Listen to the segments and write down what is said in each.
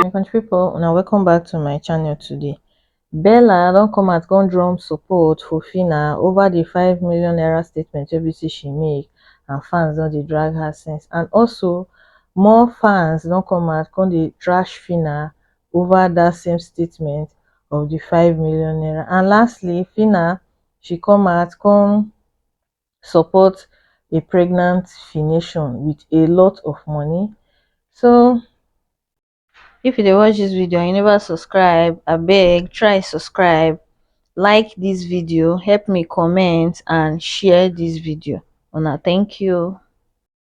my country pipo una welcome back to my channel today bella don come out come drum support for phyna over di five million naira statement wey be say she make and fans don dey drag her since and also more fans don come out come dey trash phyna over dat same statement of di five million naira and lastly phyna she come out come support a pregnant fination with a lot of money so if you dey watch this video and you never subscribe abeg try subscribe like this video help me comment and share this video una thank you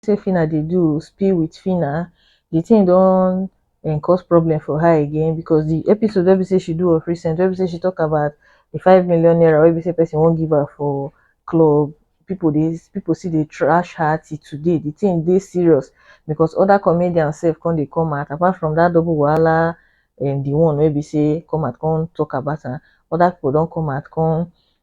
say phyna dey do spill with phyna the thing don um cause problem for her again because the episode wey be say she do of recent wey be say she talk about the five million naira wey be say person wan give her for club people dey people still dey trash her till today the thing dey serious because other comedians sef come dey come out apart from that double wahala um the one wey be say come out come talk about am other people don come out come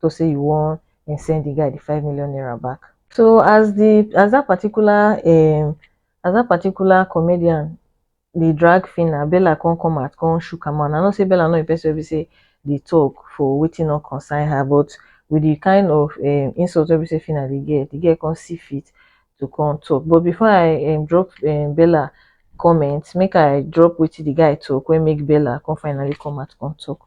to say you wan um send the guy the five million naira back. So as the as that particular um as that particular comedian dey drag Phyna, Bella come come out come shook her mouth. I know say Bella no be person wey be say dey talk for wetin no concern her but with the kind of um insult wey be say Phyna dey get, the girl come see fit to come talk. But before I um drop um Bella comment, make I drop wetin the guy talk wey make Bella come finally come out come talk.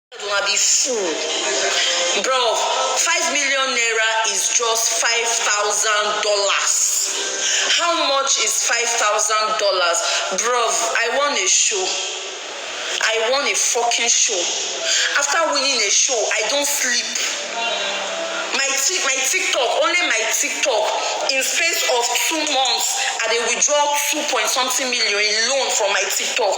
Una be fool bruv five million naira is just five thousand dollars how much is five thousand dollars bruv I won a show I won a fucking show after winning a show I don't sleep my tik my tiktok only my tiktok in space of two months I dey withdraw two point something million in loan from my tiktok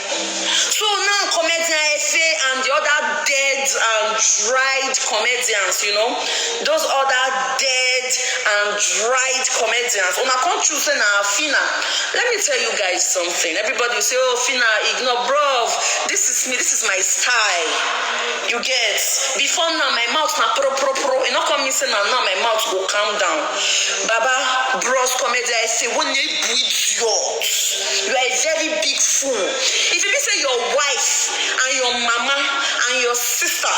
So now comedian Efe and the other dead and dried comedians, you know, those other dead and dried comedians. Una come choose say na Fina. Let me tell you guys something. Everybody will say, oh Fina, ignore bruv. This is me, this is my style. You get before now my mouth na pro pro pro. You no come mean say na now my mouth go calm down. Baba bros comedian Efe, when you idiot. You are a very big fool if e be say your wife and your mama and your sister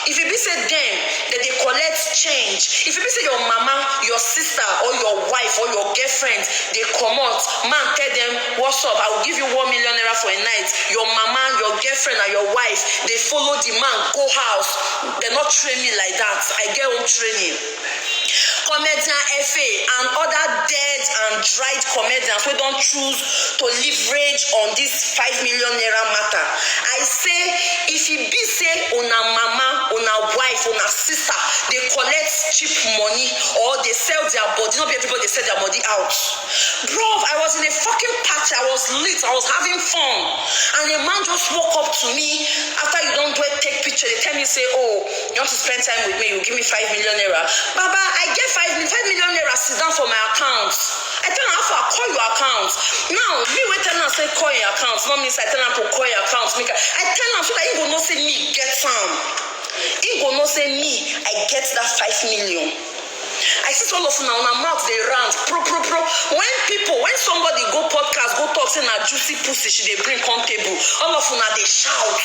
if e be say dem dem dey collect change if e be say your mama your sister or your wife or your girlfriend dey comot man tell dem what's up I will give you one million naira for a night your mama your girlfriend and your wife dey follow the man go house dem no train me like that I get home training. comedian Efe and other dead and dried comedians wey don choose to leverage on this five million naira matter. I say if e be say una mama, una wife, una sister dey collect cheap money or dey sell their body, no be everybody dey sell their body out. Bruv, I was in a fucking party, I was lit, I was having fun and a man just walk up to me after you don do a take picture dey tell me say oh, You want to spend time with me? You give me five million naira. Baba, I get five million. Five million naira sit down for my account. I tell am, I call your account. Now, me wey tell am say call your account, not mean say I tell am to call your account. Make I, I tell am so that he go know say me get am. He go know say me, I get that five million. I see all of una una mouth dey rant pro pro pro when people when somebody go podcast go talk say na juicy pussy she dey bring come table all of una dey shout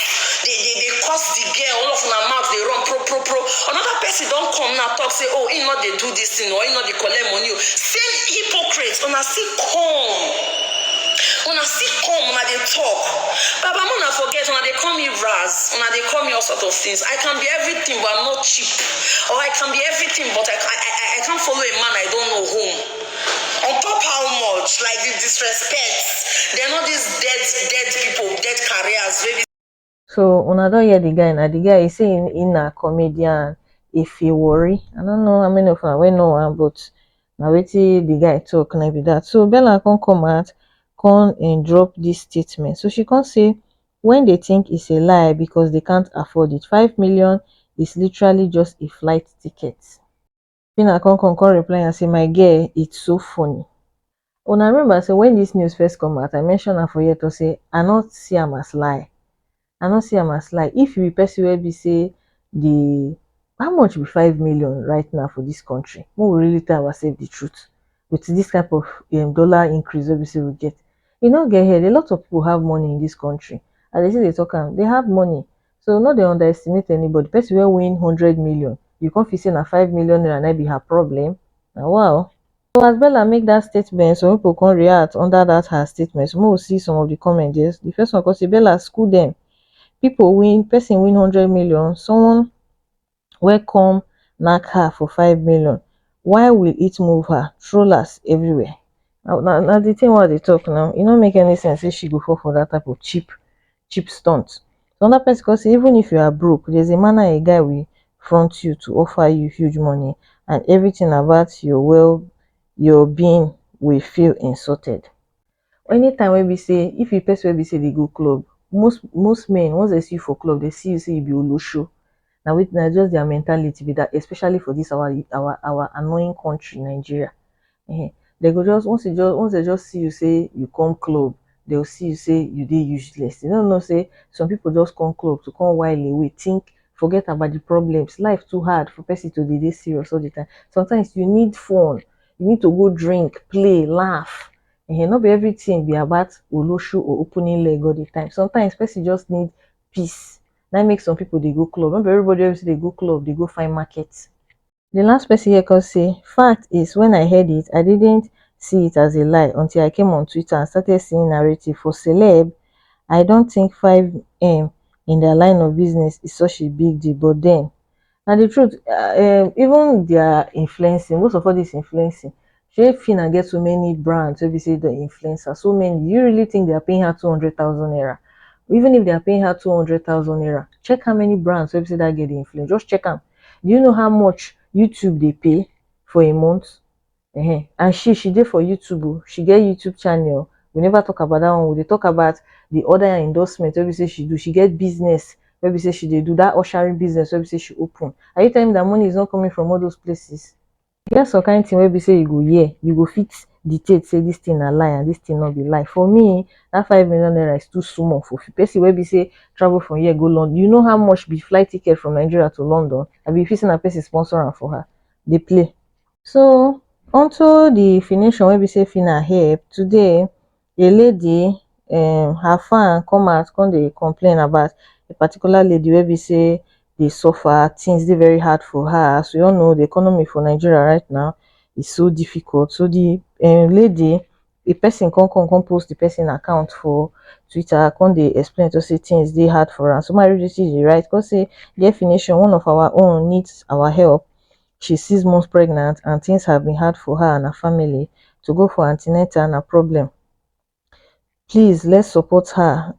dey dey dey curse the girl all of una mouth dey run pro pro pro another person don come now talk say oh he no dey do this thing or he no dey collect money o same hypocrite una still come una still come una dey talk baba una forget una dey call me raz una dey call me all sort of things i can be everything but i'm not cheap. Or I can be everything but I I I I can't follow a man I don't know home on top how much like the disrespect then all these dead dead people dead careers wey be So una don hear the guy na the guy he say he, he na comedian if he worry I don't know how many of una wey know am but na wetin the guy talk na be that so Bella come come out come um drop this statement so she come say wey dey think it's a lie because they can't afford it five million is literally just a flight ticket Phyna come come come reply am say my girl it's so funny una remember say when this news first come out I mention am for here talk say I no see am as lie I no see am as lie if you be person wey be say the how much be five million right now for this country make we really tell ourselves the truth with this type of dollar increase wey be say we get You no get head, a lot of people have money in this country as dey still dey talk am, they have money so no dey underestimate anybody, person wey win hundred million you come feel say na five million naira na be her problem, na wa o. So as Bella make that statement some people come react under that her statement so make we see some of the comment there, the first one come say Bella school dem, people win person win hundred million someone wey come nack her for five million why will it move her trollers everywhere na na na the thing wey i dey talk now e no make any sense say she go fall for that type of cheap cheap stunt another person come say even if you are broke there's a manner a guy will front you to offer you huge money and everything about your well your being will feel insulted Anytime wey be sey if you be person wey be sey dey go club, most most men once dem see you for club dem see you sey you be olosho na wetin na just their mentality be that especially for this our our our annoying country Nigeria um dem go just once dem just see you sey you come club dem go see you sey you dey useless dem no know sey some people just come club to come while away think forget about the problems life too hard for person to dey dey serious all the time sometimes you need fun you need to go drink play laugh um no be everything be about olosho or opening leg all the time. Sometimes person just need peace. Na im make some people dey go club. No be everybody wey be say dey go club dey go find market. The last person here come say, Fact is, when I heard it, I didn't see it as a lie until I came on Twitter and started seeing narrative for celeb. I don't think 5M in their line of business is such a big deal, but then, Na the truth um even their influencing most of all this influencing shey Phyna get so many brands wey be say dem influence her so many do you really think they are paying her two hundred thousand naira even if they are paying her two hundred thousand naira check how many brands wey be say that girl dey influence just check am do you know how much YouTube dey pay for a month Ehen and she she dey for YouTube o, she get YouTube channel, we never talk about that one, we dey talk about the other yam endorsement wey be say she do, she get business wey be say she dey do, that ushering business wey be say she open, are you telling me that money is not coming from all those places? E get some kind thing wey be say you go hear, you go fit dictate say this thing na lie and this thing no be lie, for me that five million naira is too small for person wey be say travel from here go London, you know how much be flight ticket from Nigeria to London, abi you fit say na person sponsor am for her, dey play. So unto the finishing wey be say Fina help today a lady um her fan come out come dey complain about a particular lady wey be say dey suffer things dey very hard for her as we all know the economy for Nigeria right now is so difficult so the um lady a person come come come post the person account for twitter come dey explain to say things dey hard for am so make I read wetin she write come say dear finishing one of our own needs our help she six months pregnant and things have been hard for her and her family to go for an ten atal na problem please let's support her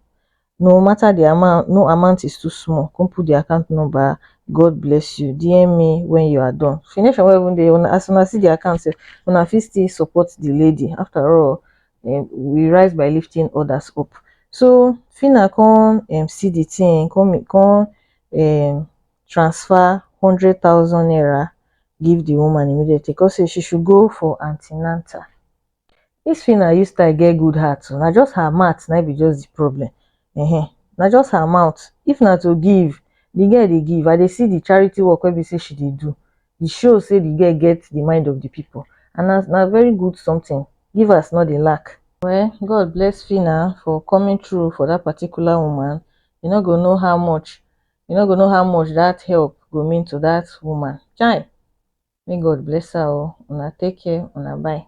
no matter the amount no amount is too small come put the account number god bless you dm me when you are done finish and even dey una as una see the account sef una fit still support the lady after all um, we rise by lifting others up so fina come um, see the thing come come um, transfer hundred thousand naira give the woman immediately come say she should go for anti-natal this Phyna use style get good heart oh, na just her mouth na be just the problem uh-huh. na just her mouth if na to give the girl dey give i dey see the charity work wey be say she dey do e show say the girl get the mind of the people and na na very good something givers no dey lack well god bless Phyna for coming through for that particular woman you no go know how much you no go know how much that help go mean to that woman chai make God bless her o una take care una bye.